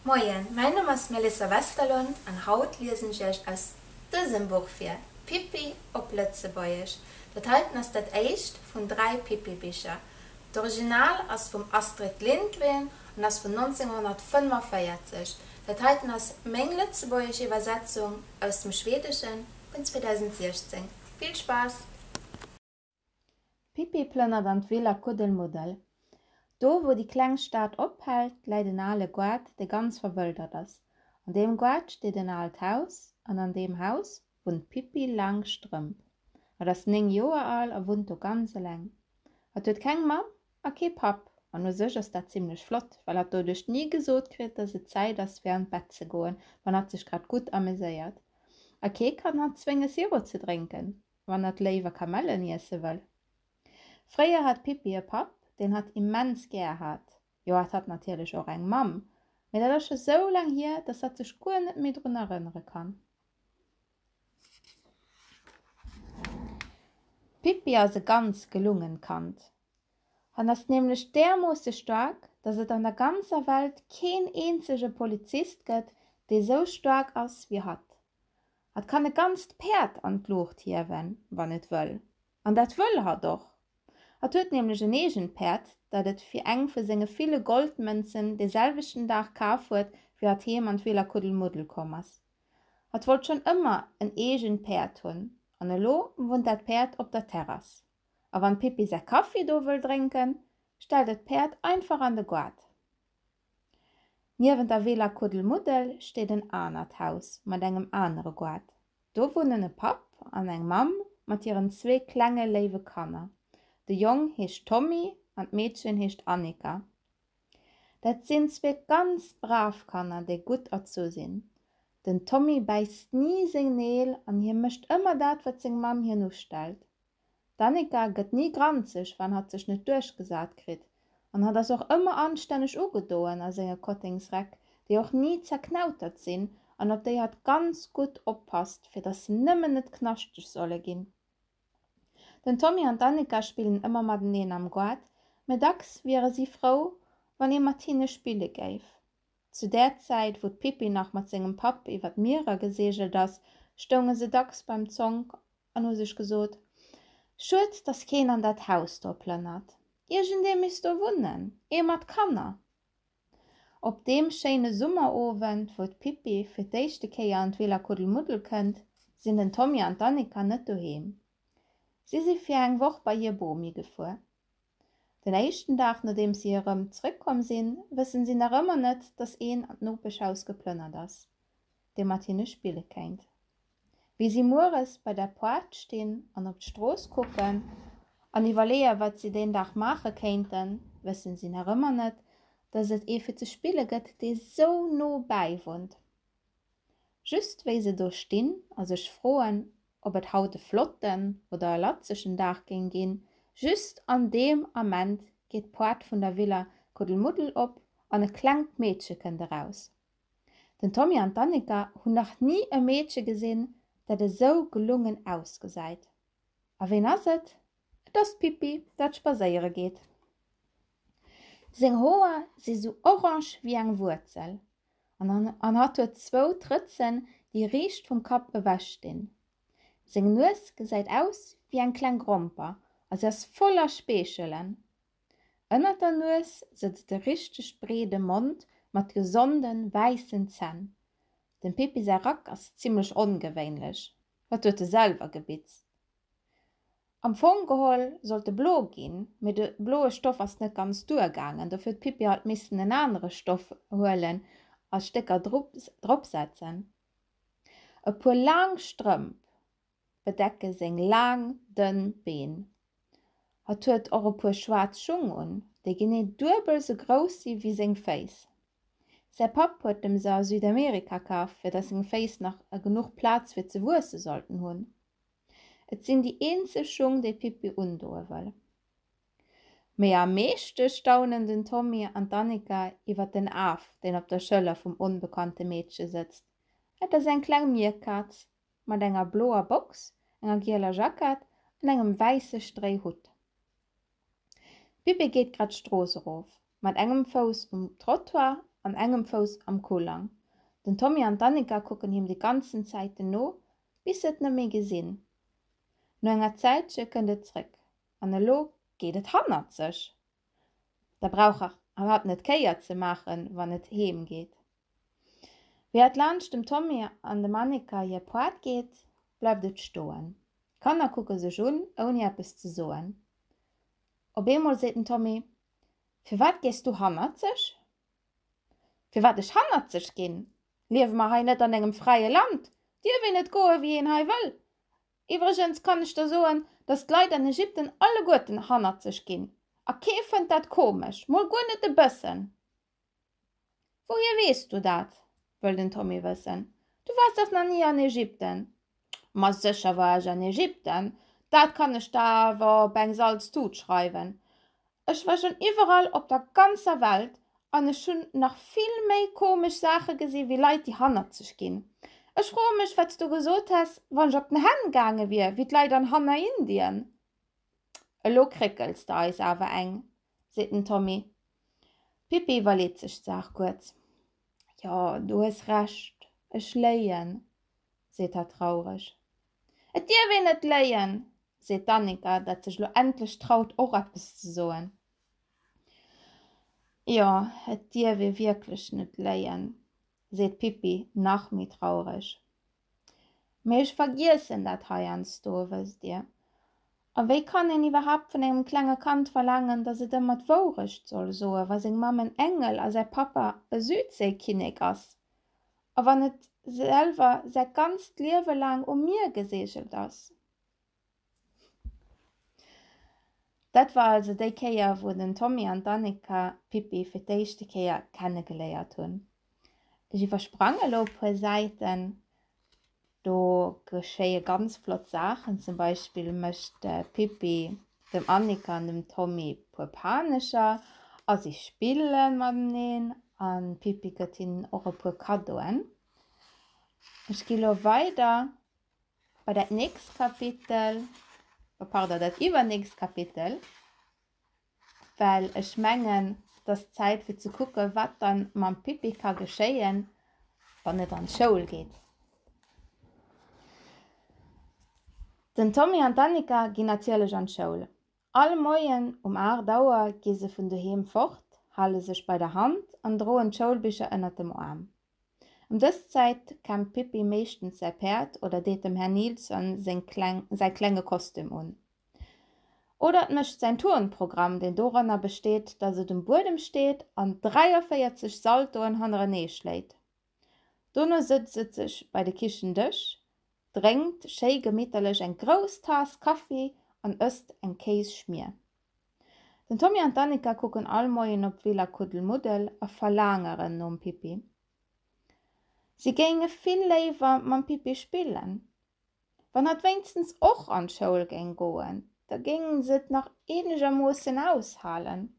Moien, mäin Numm ass Melissa Westerlund an haut liesen ech iech aus dësem Buch vir, Pippi op Lëtzebuergesch. Dat heiten ass dat éischt vun dräi Pippi-Bicher. D'Original ass vum Astrid Lindgren an ass vun 1945. Dat heiten ass meng lëtzebuergesch Iwwersetzung aus dem Schweedeschen vun 2016. Vill Spaass! D'Pippi plënnert an d'Will a Kuddelmuddel. Do, wou déi kleng Stad ophält, läit en ale Goart, dee ganz verwëldert ass. An deem Goart steet en aalt Haus an an deem Haus wunnt d'Pippi Langstrëmp. Hatt ass néng Joer al a wunnt do ganz eleng. Hatt huet keng Mamm A kee Papp. An u sech ass dat zimlech flott, well hatt doduerch ni gesot kritt, datt et Zäit ass fir an d'Bett ze goen, wann hatt sech grad gutt ameséiert. A kee kann hatt zwénge Sirop ze drénken, wann hatt léiwer Kamellen iesse wëll. Fréier hat d'Pippi e Papp, deen hatt immens gär hat. Jo, hatt hat natierlech och eng Mamm, mee dat ass scho sou laang hier, datt hatt sech guer net méi drun erënnere kann. D'Pippi ass e ganz gelungen Kand. En ass nämlech därmoosse staark, dass et an der ganzer Welt keen eenzege Polizist gëtt, dee sou staark ass wéi hatt. Hatt kann e ganzt Päerd an d'Luucht hiewen, wann et wëll. An dat wëll hatt och. Hatt huet nämlech en eegent Päerd, dat et fir eng vu senge ville Goldmënzen de selwechten Dag kaf huet, wéi hatt heem an d'Villa Kuddelmuddel komm ass. Hat wollt schonn ëmmer en eegent Päerd hunn an elo wunnt dat Päerd op der Terrass. A wann d'Pippi säi Kaffi do wëll drénken, stellt et d'Päerd einfach an de Goart. Niewent der Villa Kuddelmuddel steet en anert Haus mat engem anere Goart. Do wunnen e Papp an eng Mamm mat hiren zwee klenge léiwe Kanner. De Jong heescht Tommy an d'Meedchen heescht Annika. Dat sinn zwee ganz brav Kanner, déi gutt erzu sinn. Den Tommy bäisst ni seng Neel an hie mécht ëmmer dat, wat seng Mamm hien ustellt. D'Annika gëtt ni granzeg, wann hatt sech net duerchgesat kritt an hatt ass och ëmmer anstänneg ugedoen a senge Kottengsräck, déi och ni zerknautert sinn an op déi hatt ganz gutt oppasst, fir datt se nëmmen net knaschteg solle ginn. Den Tommy an d'Annika spillen ëmmer mateneen am Goart, mä dacks wiere si frou, wann ee mat hinne spille géif. Zu där Zäit, wou d'Pippi nach mat sengem Papp iwwer d'Mierer geseegelt ass, stounge se dacks beim Zonk an hu sech gesot, Schued, dass keen an dat Haus do plënnert. Iergendee misst do wunnen, ee mat Kanner. Op deem schéine Summerowend, wou d'Pippi fir d'éischte Kéier an d'Villa Kuddelmuddel kënnt, sinn den Tommy an d'Annika net doheem. Si si fir eng Woch bei hir Bomi gefuer. Den éischten Dag, nodeems si erëm zréckkomm sinn, wëssen si nach ëmmer net, dass een an d'Nopeschhaus geplënnert ass, dee mat hinne spille kéint. Wéi si mueres bei der Poart stinn an op d'Strooss kucken an iwwerleeë wat si deen Dag maache kéinten, wësse si nach ëmmer net, dass et ee fir ze spille gëtt, dee sou no bäi wunnt. Just wéi se do stinn a sech froen, ob et haut e flotten oder e latzegen Dag géing ginn, just an deem Ament geet d'Poart vun der Villa Kuddelmuddel op an e klengt Meedche kënnt eraus. Den Tommy an d'Annika hunn nach ni e Meedche gesinn, dat esou gelungen ausgesäit. A ween ass et? Et ass d'Pippi, dat spadséiere geet. Seng Hoer si sou orange wéi eng Wuerzel an hatt huet zwou Trëtzen, déi riicht vum Kapp ewech stinn. Seng Nues gesäit aus wéi eng kleng Gromper a se ass voller Speechelen. Ënnert der Nues sëtzt e richteg breede Mond mat gesonde wäissen Zänn. Dem Pippi säi Rack ass zimmlech ongewéinlech, wat huet e selwer gebitzt? Am Fong geholl sollt e blo ginn, mee de bloe Stoff ass net ganz duergaangen. Dofir huet d'Pippi halt missen en anere Stoff huelen a Stécker dropsetzen. E puer laang Strëmp bedecke seng laang, dënn Been. Hatt huet och e puer schwaarz Schung un, déi genee duebel sou grouss si wéi seng Féiss. Säi Papp huet em se a Südamerika kaf, fir datt seng Féiss nach genuch Plaz fir ze wuesse sollten hunn. Et sinn déi eenzeg Schung, déi d'Pippi undoe wëll. Mee am meeschte staunen den Tommy an d'Annika iwwer den Af, deen op der Schëller vum onbekannte Meedche sëtzt. Et ass eng kleng Mierkaz, mat enger bloer Box, enger gieler Jackett an engem wäisse Stréihutt. D'Bibi geet grad d'Strooss erof, mat engem Fouss um Trottoir an engem Fouss am Coulang. Den Tommy an d'Annika kucken him déi ganzen Zäiten no, bis se et net méi gesinn. No enger Zäitche kënnt et zréck, an elo geet et hannert sech. Da brauch hatt net kéier ze maachen, wann et heem geet. Wéi et laanscht dem Tommy an dem Annika hir Poart geet, bleift et stoen. D'Kanner kucke sech un, ouni eppes ze soen. Op eemol seet den Tommy, Firwat gees du hannerzeg? Firwat ech hannerzeg ginn? Liewe mer hei net an engem fräie Land? Dierf een net goe wéi een hei wëll? Iwwregens kann ech der soen, datt d'Leit an Ägypten alleguerten hannerzeg ginn, a kee fënnt dat komesch, mol guer net e bëssen. Wouhier weess du dat? wëll den Tommy wëssen. Du waars dach nach ni an Ägypten? Ma sécher war ech an Ägypten, dat kann ech der awer op eng Salztut schreiwen. Ech war schonn iwwerall op der ganzer Welt an ech hunn nach vill méi komesch Saache gesi wéi Leit, déi hannerzeg ginn. Ech froe mech, wat s du gesot häss, wann ech op den Hänn gaange wier, wéi d'Leit an Hanna, Indien. Elo kréckels de eis awer eng, seet den Tommy. D'Pippi iwwerleet sech d'Saach kuerz. Jo, du hues Recht, ech léien, seet hatt traureg. Et dierf een net léien, seet d'Annika, dat sech elo endlech traut och eppes ze soen. Jo, et dierf ee wierklech net léien, seet d'Pippi nach méi traureg. Mee ech vergiessen dat heiansdo, wësst Dir. A wéi kann een iwwerhaapt vun engem klenge Kand verlaangen, datt et ëmmer d'Wourecht soll soen, wa seng Mamm en Engel a säi Pappa e Südséikinnek ass, a wann et selwer säi ganzt Liewe laang um Mier geseegelt ass? Dat war also déi Kéier wou den Tommy an d'Annika d'Pippi fir d'éischte Kéier kennegeléiert hunn. Ech iwwersprang elo e puer Säiten, do geschéie ganz flott Saachen, zum Beispill mécht d'Pippi dem Annika an dem Tommy e puer Panecher a si spille mateneen an d'Pippi gëtt hinnen och e puer Kaddoen. Ech gi lo weider Bei dat nächst Kapitel, oh pardon, dat iwwernächst Kapitel, well ech mengen, et ass Zäit fir ze kucke wat dann mam Pippi ka geschéien, wann et an d'Schoul geet. Den Tommy an d'Annika ginn natierlech an d'Schoul. All Moien um 8 Auer gi se vun doheem fort, hale sech bei der Hand an droen d'Schoulbicher ënnert dem Aarm. Em dës Zäit kennt d'Pippi meeschtens säi Päerd oder deet dem Här Nilsson seng kleng säi klenge Kostüm un. Oder et mécht säin Turnprogramm, deen doranner besteet, dass et um Buedem steet an 43 Saltoen hannerenee schléit. Dono sëtzt et sech bei de Kichendësch, drénkt schéi gemitterlech eng grouss Taass Kaffi an ësst eng Kéisschmier. Den Tommy an d'Annika kucken all Moien op d'Villa Kuddelmuddel a verlaangeren nom Pippi. Si géinge vill léiwer mam Pippi spillen. Wann hatt wéinstens och an d'Schoul géing goen, da géinge se et nach eenegermoossen aushalen.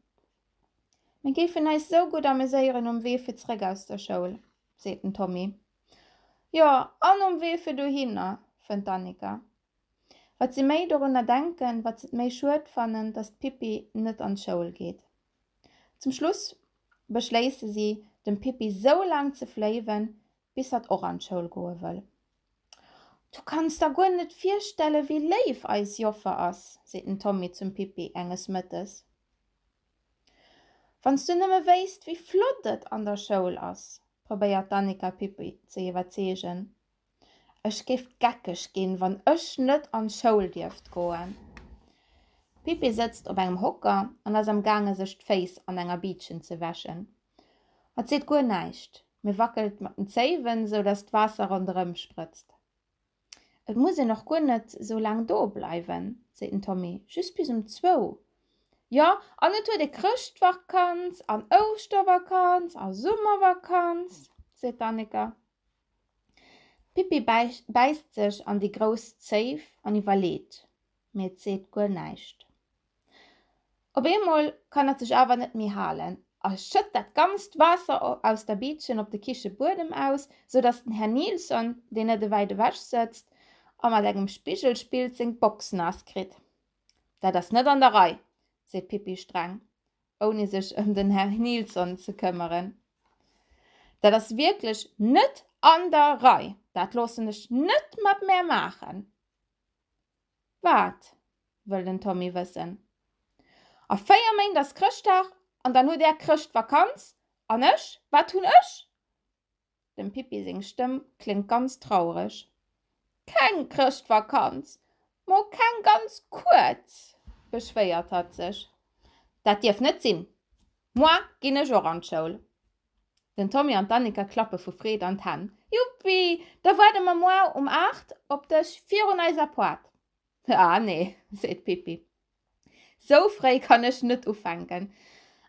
Mir géifen eis esou gutt ameséieren um Wee fir zréck aus der Schoul, seet den Tommy. Jo, an um Wee fir dohinner, fënnt d'Annika. Wat si méi dorunner denken, wat s'et méi schued fannen, datt d'Pippi net an d'Schoul geet. Zum Schluss beschléisse si, dem Pippi sou laang ze fléiwen, bis hatt och an d'Schoul goe wëll. Du kanns der guer net virstellen, wéi léif eis Joffer ass, seet den Tommy zum Pippi enges Mëttes. Wann s du nëmme wéisst, wéi flott et an der Schoul ass, probéiert d'Annika d'Pippi ze iwwerzeegen. Ech géif geckeg ginn, wann ech net an d'Schoul dierft goen. D'Pippi sëtzt op engem Hocker an ass am gaange sech d'Féiss an enger Biitchen ze wäschen. Hatt seet guer näischt, mee wackelt mat den Zéiwen, esou datt d'Waasser ronderëm sprëtzt. Et muss een och guer net esou laang do bleiwen, seet den Tommy, just bis um zwou. Jo, an et huet ee Chrëschtvakanz an Ouschtervakanz a Summervakanz, seet d'Annika. D'Pippi bäisst sech an déi grouss Zéif an iwwerleet, mee et seet guer näischt. Op eemol kann et sech awer net méi halen a schëtt dat ganzt Waasser aus der Biitchen op de Kichebuedem aus, sou datt den Här Nilsson, deen net ewäit ewech sëtzt a mat engem Spigel spillt, seng Box naass kritt. Dat ass net an der Rei, seet d'Pippi streng ouni sech ëm den Här Nilsson ze këmmeren. Dat ass wierklech net an der Rei! Dat loossen ech net mat mär maachen! Wat? wëll den Tommy wëssen. A véier Méint ass Chrëschtdag an dann hutt Är Chrëschtvakanz, an ech, wat hunn ech? Dem Pippi seng Stëmm kléngt ganz traureg. Keng Chrëschtvakanz! Mo keng ganz kuerz! beschwéiert hatt sech. Dat dierf net sinn! Moar ginn ech och an d'Schoul! Den Tommy an d'Annika klappe vu Freed an d'Hänn. Juppi! Da waarde mer moar um 8 op dech virun eiser Poart! Ah nee, seet d'Pippi. Sou fréi kann ech net ufänken.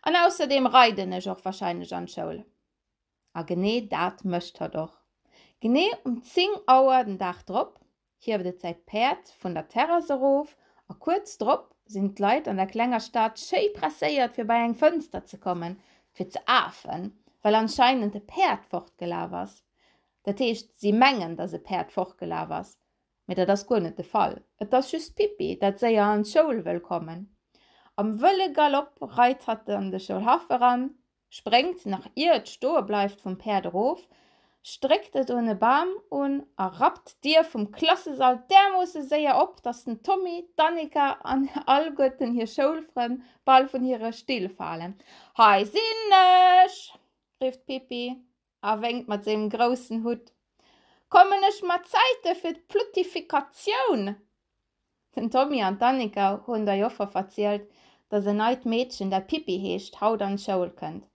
An ausserdeem reiden ech och warscheinlech an d'Schoul. A genee dat mécht hatt och. Genee um 10 Auer den Dag drop hieft et säi Päerd vun der Terrass erof a kuerz drop sinn d'Leit an der klenger Stad schéi presséiert fir bei eng Fënster ze kommen fir ze afen, well anscheinend e Päerd fortgelaf ass. Dat heescht, si mengen, datt e Päerd fortgelaf ass, mee dat ass guer net de Fall. Et ass just d'Pippi, dat séier an d'Schoul wëll kommen. Am wëlle Galopp reit hatt an de Schoulhaff eran, Spréngt, nach ier et stoe bleift, vum Päerd erof, stréckt et un e Bam un a rappt d'Dier vum Klassesall därmoosse séier op, datt den Tommy, d'Annika an alleguerten hir Schoulfrënn bal vun hire Still falen. Hei sinn ech! rifft d'Pippi. A wénkt mat sengem groussen Hutt, Kommen ech mat Zäite fir d'Pluttifikatioun? Den Tommy an d'Annika hunn der Joffer verzielt, datt en neit Meedchen, dat Pippi heescht, haut an d'Schoul kënnt.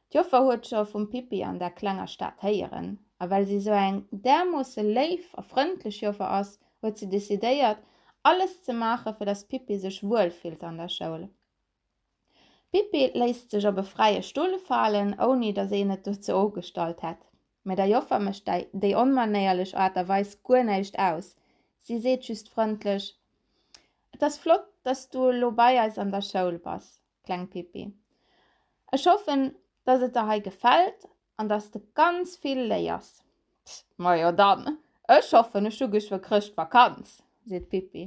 D'Joffer huet scho vum Pippi an der klenger Stad héieren, a well si esou eng därmoosse léif a frëndlech Joffer ass, huet si decidéiert, alles ze maachen, fir datt d'Pippi sech wuel fillt an der Schoul. D'Pippi léisst sech op e fräie Stull falen, ouni datt een et dozou ugestallt hätt. Mä der Joffer mécht déi onmanéierlech Aart a Weis guer näischt aus, si seet just frëndlech, Et ass flott, datt s du elo bei eis an der Schoul bass, kleng Pippi. Ech hoffen, datt et der hei gefält an datt s de ganz vill léiers. Majo dann, ech hoffen, ech hu geschwë Chrëschtvakanz, seet d'Pippi.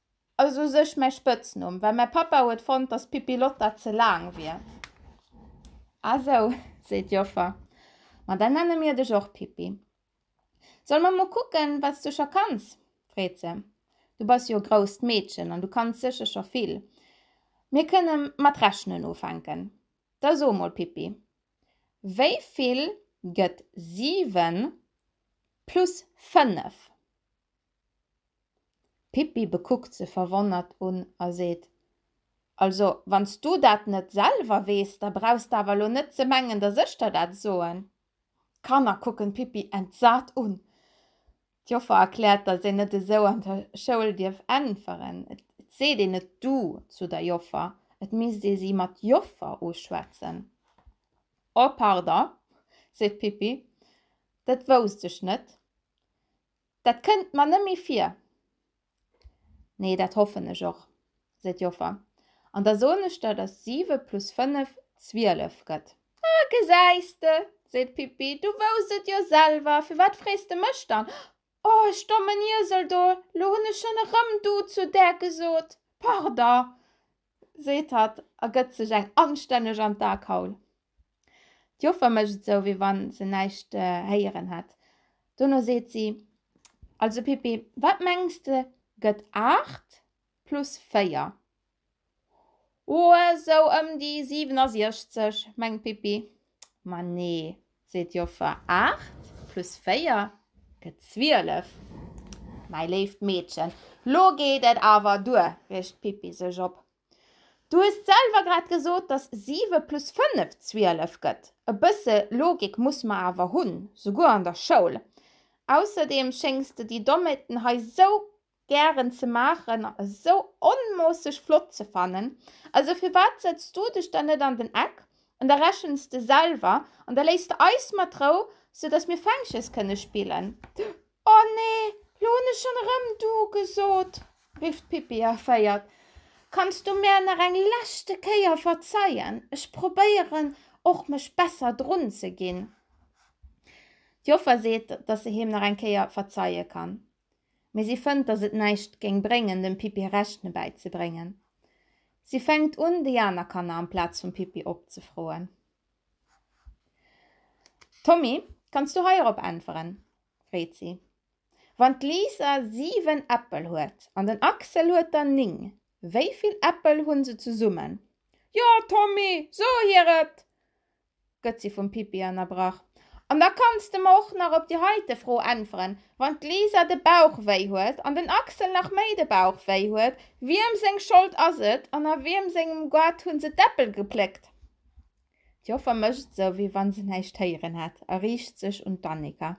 Ass u sech mäi Spëtznumm, well mäi Pappa huet fonnt, dass Pippilotta ze laang wier. Ah sou, seet d'Joffer, ma da nenne mir dech och Pippi. Solle mer mol kucken, wat s du scho kanns? freet se. Du bass jo e grousst Meedchen an du kanns sécher scho vill. Mir kënne mat rechnen ufänken. Da so mol, Pippi, wéi vill gëtt siwen plus fënnef? D'Pippi bekuckt se verwonnert un a seet, Also, wann s du dat net selwer weess, da brauchs d'awer elo net ze mengen, dass ech der dat soen. D'Kanner kucken d'Pippi entsat un. D'Joffer erkläert, dass een net esou an der Schoul dierf äntweren. Et seet een net du zu der Joffer, et misst ee si mat Joffer uschwätzen. Oh pardon, seet d'Pippi, dat wousst ech net. Dat kënnt mer nëmme vir. Nee, dat hoffen ech och, seet d'Joffer. An da soen ech der, dass siwe plus fënnef zwielef gëtt. Ah, gesäis de, seet d'Pippi, du wouss et jo selwer, firwat frees de mech dann? Oh, ech dommen Iesel do, lo hunn ech schonn erëm du zu där gesot. Pardon. seet hatt a gëtt sech eng anstänneg an d'Akaul. D'Joffer mécht esou, wéi wa se näischt héieren hätt. Dono seet si, Also Pippi, wat mengs de gëtt aacht plus véier? O, esou ëm déi 67, mengt d'Pippi. Ma nee, Seet d'Joffer, Aacht plus véier gëtt zwielef. Mäi léift Meedchen, lo geet et awer duer, riecht d'Pippi sech op. Du hues selwer grad gesot, dass siwe plus fënnef zwielef gëtt. E bësse Logik muss mer awer hunn, souguer an der Schoul. Ausserdeem schéngs de déi Dommheeten hei sou Gären ze maachen a sou onmoosseg flott ze fannen. Also firwat setz du dech dann net an den Eck an da rechens de selwer an da léiss de eis mat Rou, sou dass mir Fänkches kënne spillen. Oh nee, lo hunn ech schonn erëm du gesot, rifft d'Pippi erféiert. Kanns du mär nach eng leschte Kéier verzeien? Ech probéieren och mech besser drun ze ginn. D'Joffer seet, dass se him nach eng Kéier verzeie kann. mee si fënnt, datt et näischt géing bréngen, dem Pippi Rechne bäizebréngen. Si fänkt un, déi aner Kanner amplaz vum Pippi opzefroen. Tommy, kanns du heirop äntweren? freet si. Wann d'Lisa siwen Äppel huet an den Axel huet der ning, wéi vill Äppel hu se zesummen? Jo, Tommy, so hir et! gëtt si vum Pippi ënnerbrach, an da kanns de mer och nach op déi heite Fro äntweren, Wann d'Lisa de Bauch wéi huet an den Axel nach méi de Bauch wéi huet, wiem seng Schold ass et an a wiem sengem Goart hu se d'Äppel gepléckt? D'Joffer mécht esou, wéi wa se näischt héieren hätt a riicht sech un d'Annika,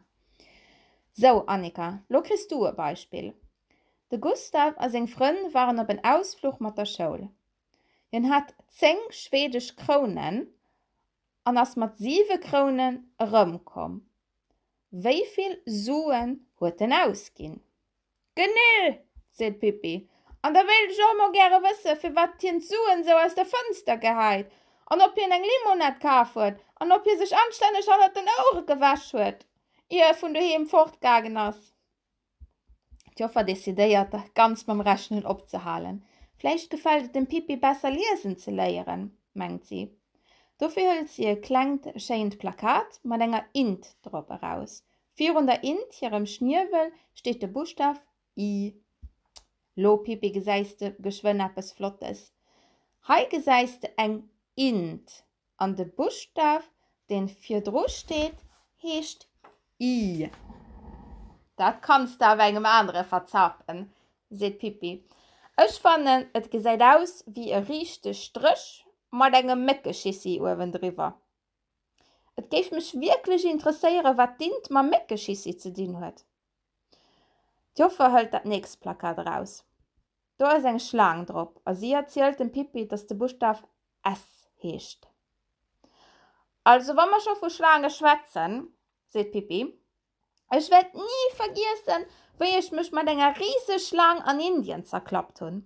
Sou, Annika, lo kriss du e Beispill. De Gustav a seng Frënn waren op en Ausfluch mat der Schoul. Hien hat zéng schwedesch Krounen an ass mat siwe Krounen erëmkomm. Wéi vill Suen huet en ausginn? Genee! seet d'Pippi. An da wéilt ech och emol gäre wëssen, firwat hien d'Suen esou aus der Fënster gehäit an ob hien eng Limonad kaf huet an ob hie sech anstänneg hannert den Ouere gewäsch huet, ier e vun doheem fortgaangen ass. D'Joffer decidéiert, ganz mam Rechnen opzehalen. Vläicht gefält et dem Pippi besser, liesen ze léieren, mengt si. Dofir hëlt si e klengt, schéint Plakat mat enger Int drop eraus. Virun der Int hirem Schniewel steet de Buschtaf I. Lo, Pippi, gesäis de geschwënn eppes Flottes. Hei gesäis de eng Int, An de Buschtaf, deen virdru steet, heescht I. Dat kanns de awer engem anere verzapen, seet d'Pippi. Ech fannen, et gesäit aus wéi e riichte Stréch mat engem Méckeschissi uewendriwwer. Et géif mech wierklech interesséieren, wat d'Int mam Méckeschissi ze dinn huet. D'Joffer hëlt dat nächst Plakat eraus. Do ass eng Schlaang drop a si erzielt dem Pippi, dass de Buschtaf S heescht. Also, wa mer scho vu Schlaange schwätzen, seet d'Pippi, Ech wäert ni vergiessen, wéi ech mech mat enger Riseschlaang an Indien zerklappt hunn.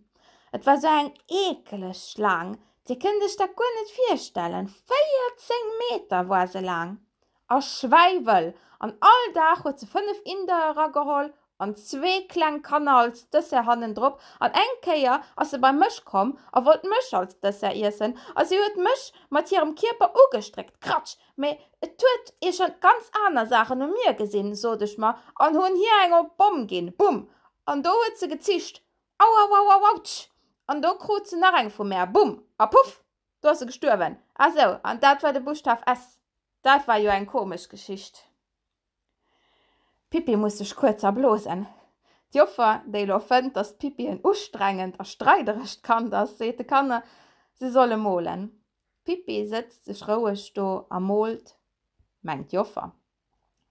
Et war esou eng eekeleg Schlaang, Dir kënnt Iech dat guer net virstellen, 14 Meter war se laang A Schwäiwel. An all Dag huet se fënnef Inder erageholl an zwee kleng Kanner als Dessert hannendrop. An eng Kéier ass se bei mech komm a wollt mech als Dessert iessen a si huet mech mat hirem Kierper ugestréckt. Kratsch! Mee et huet ee schonn ganz aner Saachen u mir gesinn, sot ech mer an hunn hir eng op Bomm ginn. Bumm! An do huet se gezischt. Auauauauautsch! An do krut se nach eng vu mär. Bumm! A puff! Do ass e gestuerwen. Ah sou, an dat war de Buschtaf S. Dat war jo eng komesch Geschicht. D'Pippi muss sech kuerz erblosen. D'Joffer, déi elo fënnt, datt d'Pippi en ustrengend a streiderescht Kand ass, seet de Kanner, se solle molen. D'Pippi sëtzt sech roueg do a moolt, mengt d'Joffer.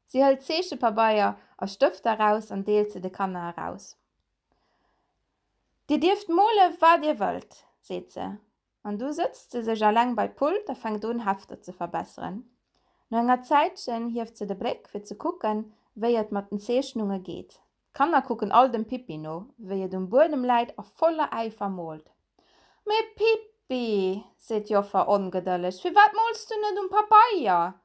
Si hëlt Zeechepabeier a Stëfter eraus an deelt se de Kanner eraus. Dir dierft mole wat dir wëllt, seet se, an du sëtzt se sech eleng bei d'Pult a fänkt un Hefter ze verbesseren. No enger Zäitchen hieft se de Bléck fir ze kucken, wéi et mat den Zeechnunge geet. D'Kanner kucken all dem Pippi no, wéi et um Buedem läit a voller Äifer moolt. Mee Pippi, seet d'Joffer ongedëlleg, firwat mols du net um Pabeier?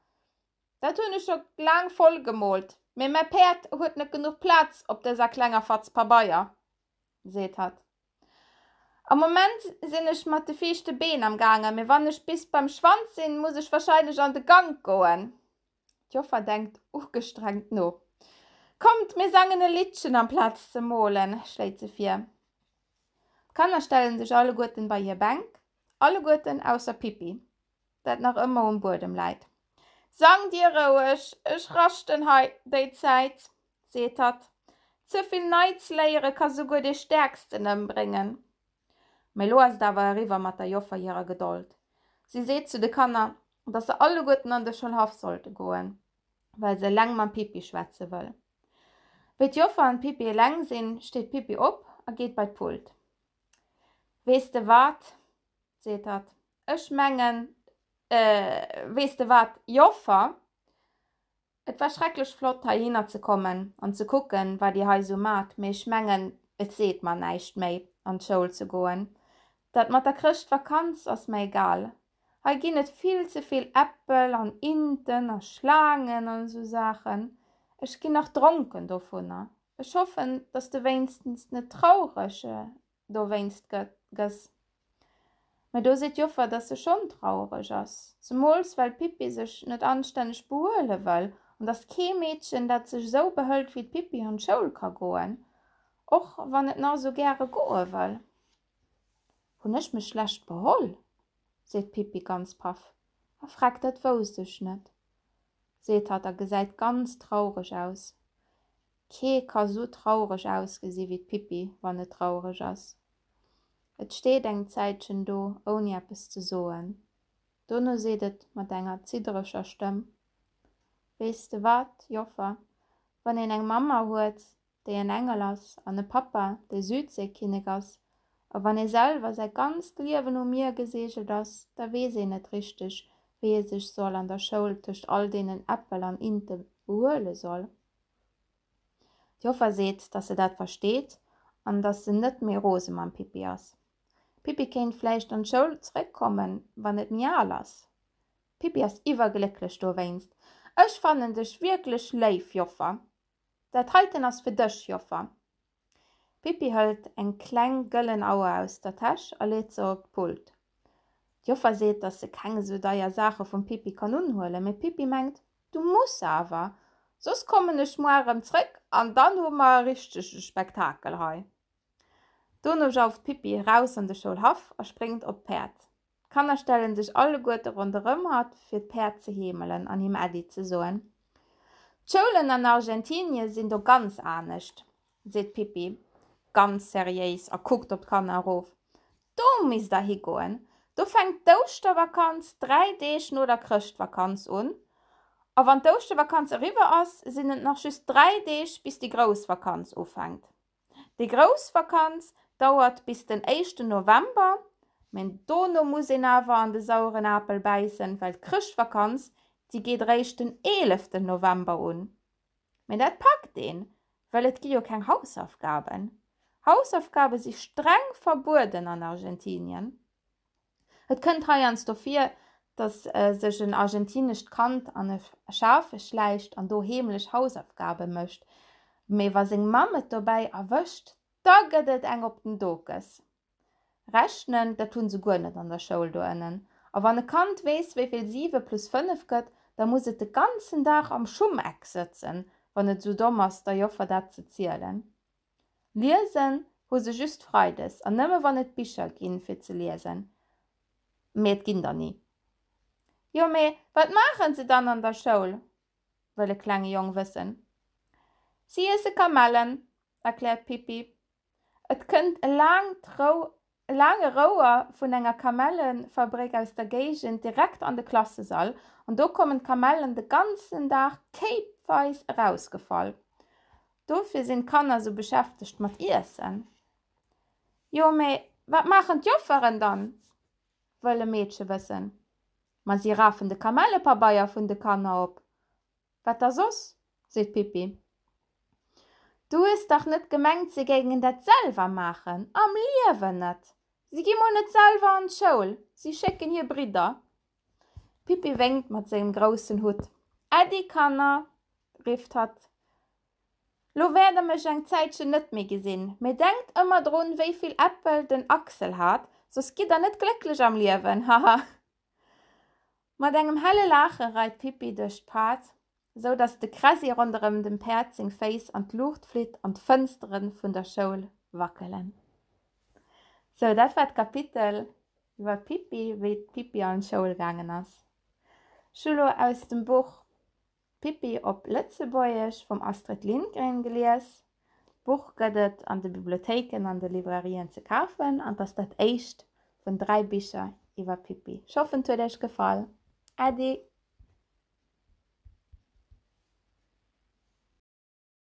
Dat hun ech scho laang voll gemoolt, mee mäi Päerd huet net genuch Platz op dëser klenger Fatz Pabeier, seet hatt. Am Moment sin ech mat de viischte Been am gaange, mee wann ech bis beim Schwanz sin, muss ech wahrscheinlech an de Gank goen. D'Joffer denkt ugestrengt no. Kommt, mir sangen e Liddchen amplaz ze moolen, schléit se vir. D'Kanner stellen sech alleguerten bei hir Bänk, alleguerten ausser Pippi. dat nach ëmmer um Buedem läit. Sang dir roueg, ech raschten hei déi Zäit, seet hatt. Ze vill nei ze léiere ka souguer dee Stäerksten ëmbréngen. Mee elo ass et awer eriwwer mat der Joffer hirer Gedold. Si seet zu de Kanner, dass se alleguerten an de Schoulhaff sollte goen, well se eleng mam Pippi schwätze wëll. Wéi d'Joffer an d'Pippi eleng sinn, steet d'Pippi op a geet bei d'Pult. Weess de wat? seet hatt, ech mengen, weess de wat, Joffer, et war schrecklech flott heihinner ze kommen an ze kucken, wat Dir hei esou maacht, mee ech mengen, et seet mer näischt méi, an d'Schoul ze goen. Dat mat der Chrëschtvakanz ass mer egal. Hei ginn et vill ze vill Äppel an Inten a Schlaangen an esou Saachen. Ech ginn nach dronken dovunner. Ech hoffen, dass de wéinstens net traureg dowéinst gëss. Mä do seet d'Joffer, dass se schonn trauereg ass, zemools well d'Pippi sech net anstänneg behuele wëll an dass kee Meedchen, dat sech esou behëlt wéi d'Pippi, an d'Schoul ka goen, och wann et nach esou gäre goe wëll. Hunn ech mech schlecht beholl? seet d'Pippi ganz paff a freckt. Dat wousst ech net, seet hatt a gesäit ganz traureg aus. Kee ka sou traureg ausgesi wéi d'Pippi, wann et traureg ass. Et steet eng Zäitchen do, ouni eppes ze soen. Dono seet et mat enger ziddereger Stëmm, Weess de wat, Joffer, wann een eng Mamma huet, déi en Engel ass, an e Pappa, dee Südseekinnek ass, a wann ee selwer säi ganzt Liewen um Mier geseegelt ass, da weess een net richteg, wéi ee sech soll an der Schoul tëscht all deenen Äppel an Inte behuele soll. D'Joffer seet, dass se dat versteet an dass se net méi rose mam Pippi ass. D'Pippi kéint vläicht an d'Schoul zeréckkommen, wann et méi al ass. D'Pippi ass iwwerglécklech dowéinst. Ech fannen dech wierklech léif, Joffer. Dat heiten ass fir dech, Joffer. D'Pippi hëlt eng kleng gëllen Auer aus der Täsch a leet se op d'Pult. D'Joffer seet, dass se keng esou deier Saache vum Pippi kann unhuelen, mee d'Pippi mengt, Du muss awer, soss kommen ech muar erëm zréck an dann hu mer e richtege Spektakel hei. Dono jauft d'Pippi eraus an de Schoulhaff a spréngt op d'Päerd. D'Kanner stellen sech alleguerte ronderëm hatt, fir d'Päerd ze heemelen an him Äddi ze soen. D'Schoulen an Argentinie sinn do ganz anescht, seet d'Pippi ganz seriéis a kuckt op d'Kanner erof. Do misst der higoen, do fänkt d'Ouschtervakanz dräi Deeg no der Chrëschtvakanz un. A wann d'Ouschtervakanz eriwwer ass, sinn et nach just dräi Deeg, bis déi grouss Vakanz ufänkt. Déi grouss Vakanz dauert bis den éischten November, mä dono muss een awer an de saueren Apel bäissen, well d'Chrëschtvakanz, déi geet eréischt den eeleften November un. Mä dat packt een, well et gi jo keng Hausaufgaben. Hausaufgabe si streng verbueden an Argentinien. Et kënnt heiansdo vir, datt sech en argentinescht Kand an e Schafe schläicht an do heemlech Hausaufgabe mécht, mee wa seng Mamm et dobäi erwëscht, da gëtt et eng op den Dokes. Rechnen, dat hu se guer net an der Schoul do ënnen. A wann e Kand weess, wéi vill siwe plus fënnef gëtt, da muss et de ganzen Dag am Schummeck sëtzen, wann et esou domm ass, der Joffer dat ze zielen. Liesen hu se just Freides an nëmme wann et Bicher ginn fir ze liesen, mee et ginn der ni. Jo mee wat maachen se dann an der Schoul? wëll e klenge Jong wëssen. Si iesse Kamellen, erkläert d'Pippi. Et kënnt e laangt Rou E laange Rouer vun enger Kamellenfabréck aus der Géigend direkt an de Klassesall, an do kommen d'Kamellen de ganzen Dag kéipweis erausgefall. Dofir sinn d'Kanner sou beschäftegt mat Iessen. Jo, mee wat maachen d'Jofferen dann? wëll e Meedche wëssen. Ma si rafen de Kamellepabeier vun de Kanner op Wat da soss? seet d'Pippi. Du hues dach net gemengt, si géingen dat selwer maachen? Am Liewen net! Si gi mol net selwer an d'Schoul, si schécken hir Bridder. D'Pippi wénkt mat sengem groussen Hutt. Äddi, Kanner! rifft hatt. Lo wäert der mech eng Zäitchen net méi gesinn, mee denkt ëmmer drun, wéi vill Äppel den Axel hat, soss gitt der net glécklech am Liewen, haha! Mat engem helle Laache reit d'Pippi duerch d'Pad, sou datt de Kressi ronderëm dem Päerd seng Féiss an d'Luucht flitt an d'Fënstere vun der Schoul wackelen. Sou, dat war d'Kapitel iwwer d'Pippi, wéi d'Pippi an d'Schoul gaangen ass. Julo, aus dem Buch D'Pippi op Lëtzebuergesch vum Astrid Lindgren gelies. D'Buch gëtt et an de Bibliothéiken an de Librairien ze kafen an 't ass dat éischt vun dräi Bicher iwwer d'Pippi. Ech hoffen 't huet iech gefall. Äddi!